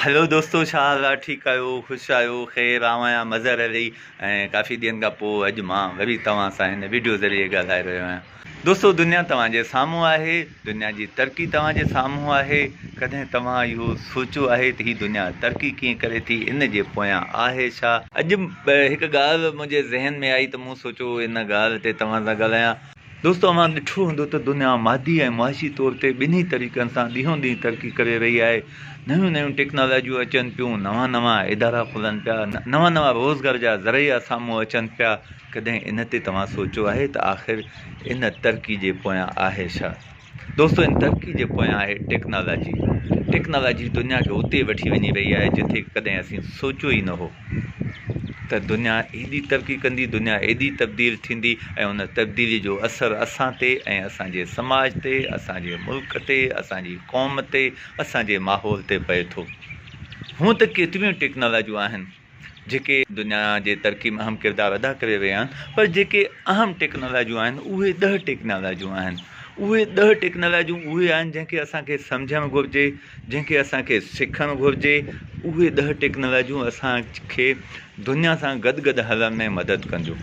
هلو دوستو ڇا حال آ ٺيڪ آهيو خوش آهيو خير آئون آهيان مظهر علي ۽ ڪافي ڏينهن کان پوء اڄ مان وري توهان سان هن ويڊيو ذريعي ڳالهائي رهيو آهيان دوستو دنيا توهان جي سامهون آهي دنيا جي ترقي توهان جي سامهون آهي ڪڏهن توهان اهو سوچيو آهي ته هي دنيا ترقي ڪيئن ڪري ٿي ان جي پويان آهي ڇا اڄ هڪ ڳالهه منهنجي ذهن ۾ آئي ته مون سوچيو ان ڳالهه تي توهان سان ڳالهايان. دوستو اوهان ڏٺو هوندو ته دنيا مادي ۽ معاشي طور تي ٻنهي طريقن سان ڏينهون ڏينهن ترقي ڪري رهي آهي نيون نيون ٽيڪنالاجيون اچن پيون نوان نوان ادارا کلن پيا نوان نوان روزگار جا ذريعا سامهون اچن پيا ڪڏهن ان تي توهان سوچيو آهي ته آخر ان ترقي جي پويان آهي ڇا دوستو ان ترقي جي پويان آهي ٽيڪنالاجي، ٽيڪنالاجي دنيا کي اتي وٺي وڃي رهي آهي جتي ڪڏهن اسين سوچيو ئي نه هو ته دنيا ايڏي ترقي ڪندي دنيا ايڏي تبديل ٿيندي ۽ ان تبديلي جو اثر اسان تي ۽ اسان جي سماج تي اسان جي ملڪ تي اسان جي قوم تي اسان جي ماحول تي پئي ٿو هونء ته ڪيتريون ئي ٽيڪنالاجيون آهن جيڪي دنيا جي ترقي ۾ اهم ڪردار ادا ڪري رهيا آهن پر جيڪي اهم ٽيڪنالاجيون آهن اهي ڏهه ٽيڪنالاجيون آهن اهي ڏهه ٽيڪنالاجيون اهي آهن جنهن کي اسانکي سمجهڻ گهرجي جنهن کي اسانکي سکڻ گهرجي اهي ڏهه ٽيڪنالاجيون اسانکي دنيا سان گڏ گڏ هلڻ ۾ مدد ڪنديون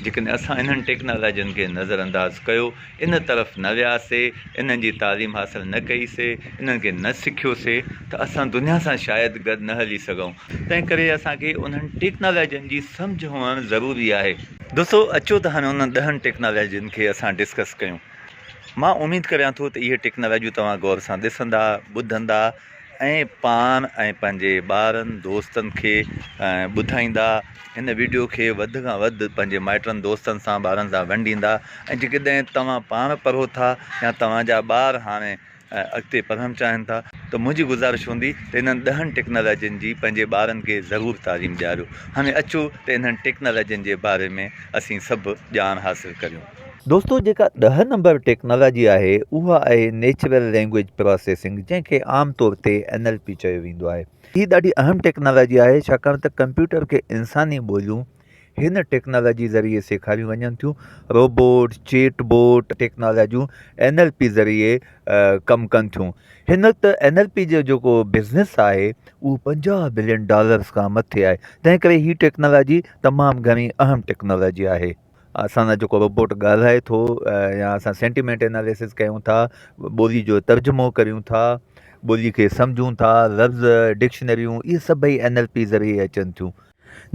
جيڪڏهن اسان انهن ٽيڪنالاجين کي نظر انداز ڪيو ان طرف نه وياسي، انهن جي تعليم حاصل نه ڪئي سي، انهن کي نه سکيو سي ته اسان دنيا سان شايد گڏ نه هلي سگهئون. تنهن ڪري اسان کي انهن ٽيڪنالاجين جي سمجهه هئڻ ضروري آهي. دوستو اچو ته هاڻي انهن ڏهن ٽيڪنالاجين کي اسان ڊسڪس ڪيون. مان اميد ڪريان ٿو ته اهي ٽيڪنالاجيون توهان غور سان ڏسندا، ٻڌندا. ۽ پاڻ ۽ پنهنجي ٻارن دوستن کي ٻڌائيندا هن ويڊيو کي وڌ کان وڌ پنهنجي مائٽن دوستن سان ٻارن سان ونڊيندا ۽ جيڪڏهن توهان پاڻ پڙهو ٿا يا توهان جا ٻار هاڻي اڳتي پڙهڻ چاهن ٿا ته منهنجي گذارش هوندي ته انهن ڏهن ٽيڪنالاجين جي پنهنجي ٻارن کي ضرور تعليم ڏياريو هاڻي اچو ته انهن ٽيڪنالاجين جي باري ۾ اسين سڀ ڄاڻ حاصل ڪريون. دوستو جيڪا ڏهه نمبر ٽيڪنالاجي آهي اها آهي نيچرل لينگويج پراسيسنگ جنهن کي عام طور تي اين ايل پي چيو ويندو آهي هي ڏاڍي اهم ٽيڪنالاجي آهي ڇاڪاڻ ته ڪمپيوٽر کي انساني ٻوليون هن ٽيڪنالاجي ذريعي سيکاريون وڃن ٿيون روبوٽ چيٽ بوٽ ٽيڪنالاجيون اين ايل پي ذريعي ڪم ڪن ٿيون هن وقت اين ايل پي جو جيڪو بزنس آهي اهو پنجاهه بلين ڊالرس کان مٿي آهي تنهن ڪري هي ٽيڪنالاجي تمام گهڻي اهم ٽيڪنالاجي آهي اسان سان جيڪو روبوٽ ڳالهائي ٿو يا اسان سينٽيمينٽ اناليسز ڪيون ٿا ٻولي جو ترجمو ڪريون ٿا ٻولي کي سمجهون ٿا لفظ ڊڪشنريون اهي سڀئي اين ايل پي ذريعي اچن ٿيون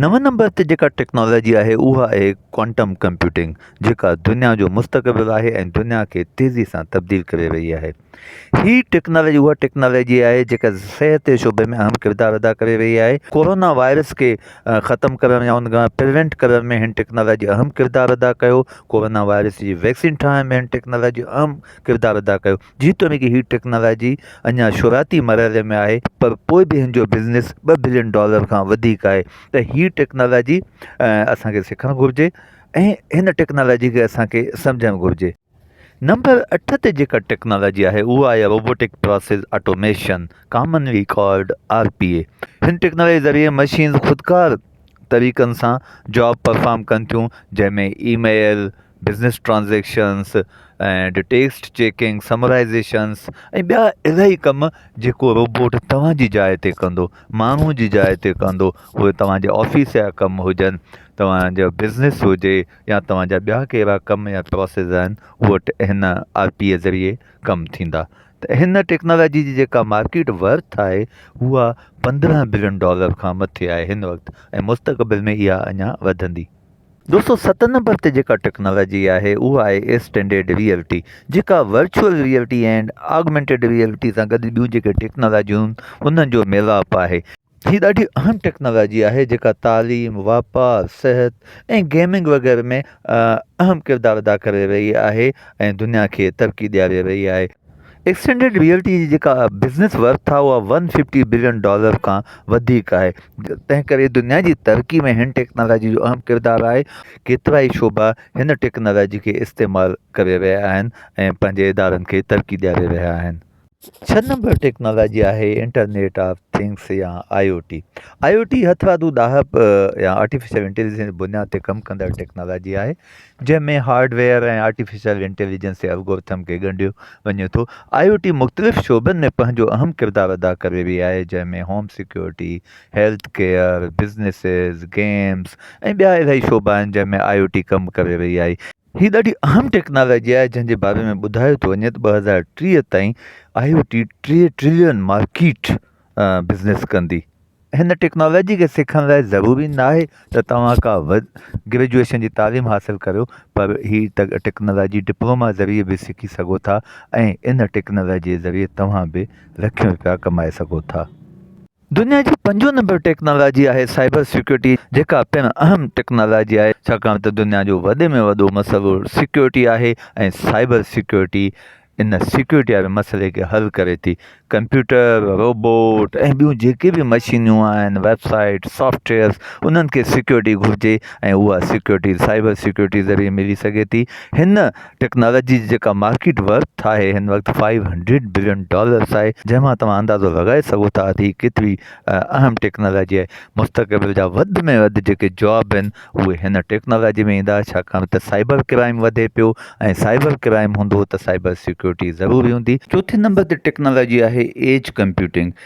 نون نمبر تي جيڪا ٽيڪنالاجي آهي اها آهي ڪوانٽم ڪمپيوٽنگ جيڪا دنيا جو مستقبل آهي ۽ دنيا کي تيزي سان تبديل ڪري رهي آهي هي ٽيڪنالاجي اها ٽيڪنالاجي آهي جيڪا صحت جي شعبي ۾ اهم ڪردار ادا ڪري رهي آهي ڪورونا وائرس کي ختم ڪرڻ يا ان کان پريونٽ ڪرڻ ۾ ھن ٽيڪنالاجي اھم ڪردار ادا ڪيو ڪورونا وائرس جي ويڪسين ٺاھڻ ۾ ھن ٽيڪنالاجي اھم ڪردار ادا ڪيو جيتوڻيڪ ھي ٽيڪنالاجي اڃان شروعاتي مرحلي ۾ آھي پر پوء به ھن جو بزنس ٻه بلين ڊالر کان وڌيڪ آھي ته ھي ٽيڪنالاجي اسان کي سکڻ گھرجي ۽ ھن ٽيڪنالاجي کي اسان کي سمجهڻ گھرجي. نمبر اٺ تي جيڪا ٽيڪنالاجي آهي اها آهي robotic process automation commonly called R P A هن ٽيڪنالاجي ذريعي مشينز خودڪار طريقن سان جاب پرفارم ڪن ٿيون جنهن ۾ e mail business transactions and text checking summarisations ۽ ٻيا الاهي ڪم جيڪو روبوٽ توهان جي جاء تي ڪندو ماڻهو جي جاء تي ڪندو اهي توهان جي آفيس جا ڪم هجن توهان جو بزنس هجي يا توهان جا ٻيا ڪهڙا ڪم يا پراسيس آهن اهي هن آر پي اي ذريعي ڪم ٿيندا ته هن ٽيڪنالاجي جي جيڪا مارڪيٽ ورٿ آهي اها پندرهن بلين ڊالر کان مٿي آهي هن وقت ۽ مستقبل ۾ اها اڃا وڌندي دوستو ست نمبر تي جيڪا ٽيڪنالاجي آهي اها آهي ايسٽينڊيڊ ريئلٽي جيڪا virtual reality and augmented reality سان گڏ ٻيون جيڪي ٽيڪنالاجيون انهن جو ميلاپ آهي هي ڏاڍي اهم ٽيڪنالاجي آهي جيڪا تعليم، واپار، صحت ۽ گيمنگ وغيره ۾ اهم ڪردار ادا ڪري رهي آهي ۽ دنيا کي ترقي ڏياري رهي آهي. ايڪسٽينڊيڊ ريئلٽي جي جيڪا بزنس ورٿ آهي اها ون ففٽي بلين ڊالر کان وڌيڪ آهي تنهن ڪري دنيا جي ترقي ۾ هن ٽيڪنالاجي جو اهم ڪردار آهي. ڪيترائي شعبا هن ٽيڪنالاجي کي استعمال ڪري رهيا آهن ۽ پنهنجي ادارن کي ترقي ڏياري رهيا آهن. ڇهه نمبر ٽيڪنالاجي آهي انٽرنيٽ آف ٿنگس يا I O T I O ٽي هٿ رادو ڏاهپ يا آرٽيفيشل انٽيليجنس بنياد تي ڪم ڪندڙ ٽيڪنالاجي آهي جنهن ۾ هارڊويئر ۽ آرٽيفيشل انٽيليجنس جي الگورٿم کي ڳنڍيو وڃي ٿو آئي او ٽي مختلف شعبن ۾ پنهنجو اهم ڪردار ادا ڪري رهي آهي جنهن ۾ home security health care businesses games ۽ ٻيا الاهي شعبا آهن جنهن ۾ آئي او ٽي ڪم ڪري رهي آهي هي ڏاڍي اهم ٽيڪنالاجي آهي جنهن جي باري ۾ ٻڌايو ٿو وڃي ته ٻه هزار ٽيهه تائين آء او ٽي ٽيهه ٽرلين مارڪيٽ بزنس ڪندي هن ٽيڪنالاجي کي سکڻ لاء ضروری نه آهي ته توهان ڪا گريجويشن جي تعليم حاصل ڪريو پر هي ٽيڪنالاجي ڊپلوما ذريعي به سکي سگهو ٿا ۽ ان ٽيڪنالاجي ذريعي توهان به لکين روپيا ڪمائي سگهو ٿا دنيا جي پنجون نمبر ٽيڪنالاجي آهي سائبر سيڪيورٽي جيڪا پڻ اهم ٽيڪنالاجي آهي ڇاڪاڻ ته دنيا جو وڏي ۾ وڏو مسئلو سيڪيورٽي آهي ۽ سائبر سيڪيورٽي ان سيڪيورٽي واري مسئلي کي حل ڪري ٿي ڪمپيوٽر روبوٽ ۽ ٻيون جيڪي به مشينيون آهن ويب سائيٽ سافٽويئرس انهن کي سيڪيورٽي گهرجي ۽ اها سيڪيورٽي سائبر سيڪيورٽي ذريعي ملي سگهي ٿي هن ٽيڪنالاجي جي جيڪا مارڪيٽ ورٿ آهي هن وقت فائيو هنڊريڊ بلين ڊالرس آهي جنهن مان توهان اندازو لڳائي سگهو ٿا ته هي ڪيتري اهم ٽيڪنالاجي آهي مستقبل جا وڌ ۾ وڌ جيڪي جاب آهن اهي هن ٽيڪنالاجي ۾ ايندا ڇاڪاڻ ته سائبر ڪرائيم وڌي پيو ۽ سائبر ڪرائيم هوندو ته سائبر سيڪيورٽي ضروري هوندي چوٿين نمبر تي ٽيڪنالاجي آهي ايج ڪمپيوٽنگ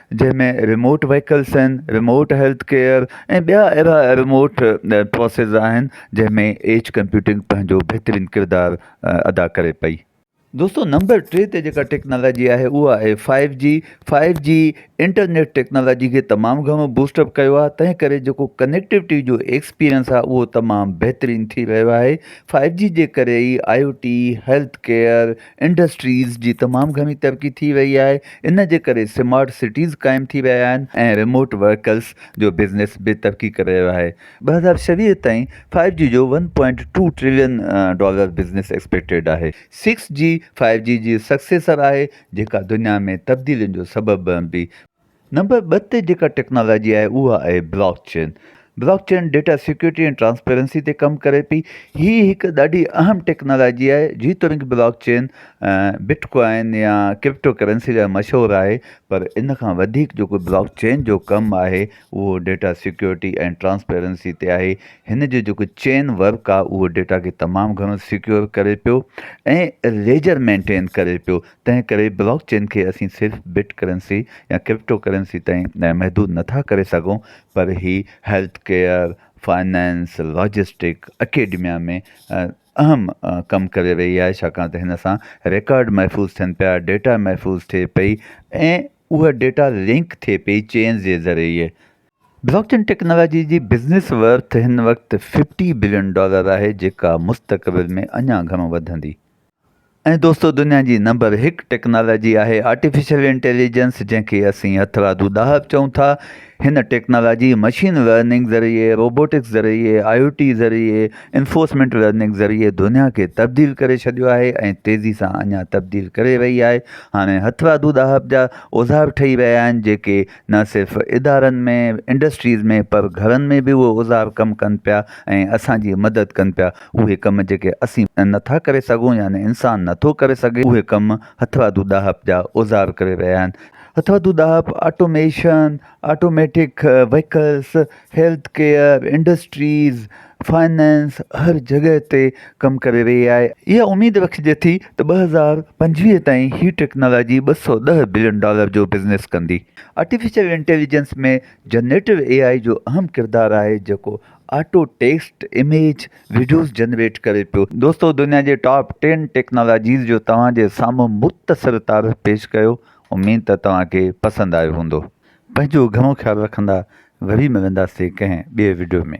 جنهن ۾ ريموٽ وهيڪلز آهن، ريموٽ هيلٿ ڪيئر ۽ ٻيا اهڙا ريموٽ پروسيس آهن جنهن ۾ ايج ڪمپيوٽنگ پنهنجو بهترين ڪردار ادا ڪري پئي. دوستو نمبر ٽي تي جيڪا ٽيڪنالاجي آهي اها آهي five G, five G internet technology کي تمام گهڻو بوسٽ اپ ڪيو آهي تنهن ڪري جيڪو ڪنيڪٽوٽي جو ايڪسپيرينس آهي اهو تمام بهترين ٿي رهيو آهي، فائيو جي جي ڪري ئي I O T, health care, industries جي تمام گهڻي ترقي ٿي وئي آهي ان جي ڪري سمارٽ سٽيز قائم ٿي ويا آهن ۽ ريموٽ ورڪرز جو بزنس به ترقي ڪري رهيو آهي ٻه هزار ڇويهه تائين فائيو جي جو one point two trillion dollar business expected آهي سڪس جي فائيو جي جي سڪسيسر آهي جيڪا دنيا ۾ تبديلين جو سبب بڻبي. نمبر ٻه تي جيڪا ٽيڪنالاجي آهي اها آهي blockchain. Blockchain data security ۽ transparency تي ڪم ڪري پئي. هي هڪ ڏاڍي اهم ٽيڪنالاجي آهي. جيتوڻيڪ بلاڪ چين بٽ ڪوائن يا ڪرپٽو ڪرنسي لاء مشهور آهي پر ان کان وڌيڪ جيڪو بلاڪ چين جو ڪم آهي اهو ڊيٽا سيڪيورٽي ۽ ٽرانسپيرنسي تي آهي. هن جو جيڪو چين ورڪ آهي اهو ڊيٽا کي تمام گهڻو سيڪيور ڪري پيو ۽ ليجر مينٽين ڪري پيو تنهن ڪري بلاڪ چين کي اسين صرف بٽ ڪرنسي يا ڪرپٽو ڪرنسي تائين محدود نه ٿا ڪري سگهون پر هي health care, finance, logistic, academia ۾ اهم ڪم ڪري رهي آهي ڇاڪاڻ ته هن سان رڪارڊ محفوظ ٿين پيا، ڊيٽا محفوظ ٿئي پئي ۽ اها ڊيٽا لنڪ ٿئي پئي چين جي ذريعي. بلاڪ چين ٽيڪنالاجي جي بزنس ورٿ هن وقت ففٽي بلين ڊالر آهي جيڪا مستقبل ۾ اڃا گهڻو وڌندي. ۽ دوستو دنيا جي نمبر هڪ ٽيڪنالاجي آهي آرٽيفيشل انٽيليجنس جنهن کي اسين هٿرادو ڏاهپ چئون ٿا هن ٽيڪنالاجي مشين لرننگ ذريعي روبوٽڪس ذريعي آئي او ٽي ذريعي انفورسمينٽ لرننگ ذريعي دنيا کي تبديل ڪري ڇڏيو آهي ۽ تيزي سان اڃا تبديل ڪري رهي آهي هاڻي هٿرادو ڏاهپ جا اوزار ٺهي رهيا آهن جيڪي نه صرف ادارن ۾ انڊسٽريز ۾ پر گهرن ۾ به اهي اوزار ڪم ڪن پيا ۽ اسان جي مدد ڪن پيا اهي ڪم جيڪي اسين نه ٿا ڪري سگهون يا نه انسان نه ٿو ڪري سگهي اهي ڪم هٿرادو ڏاهپ جا اوزار ڪري رهيا آهن هٿرادو ڏاهپ automation automatic vehicles health care industries finance هر جڳهه تي ڪم ڪري رهي آهي، اها اميد رکجي ٿي ته ٻه هزار پنجويهه تائين هي ٽيڪنالاجي ٻه سؤ ڏهه بلين ڊالر جو بزنس ڪندي. Artificial intelligence ۾ generative A I جو اهم ڪردار آهي جيڪو auto text, image, videos generate ڪري پيو. دوستو دنيا جي ٽاپ ٽين ٽيڪنالاجيز جو توهان جي سامهون مختصر تعارف پيش ڪيو اميد ته توهان کي پسند آيو هوندو. پنهنجو گهڻو خيال رکندا وري ملنداسين ڪنهن ٻئي وڊيو ۾.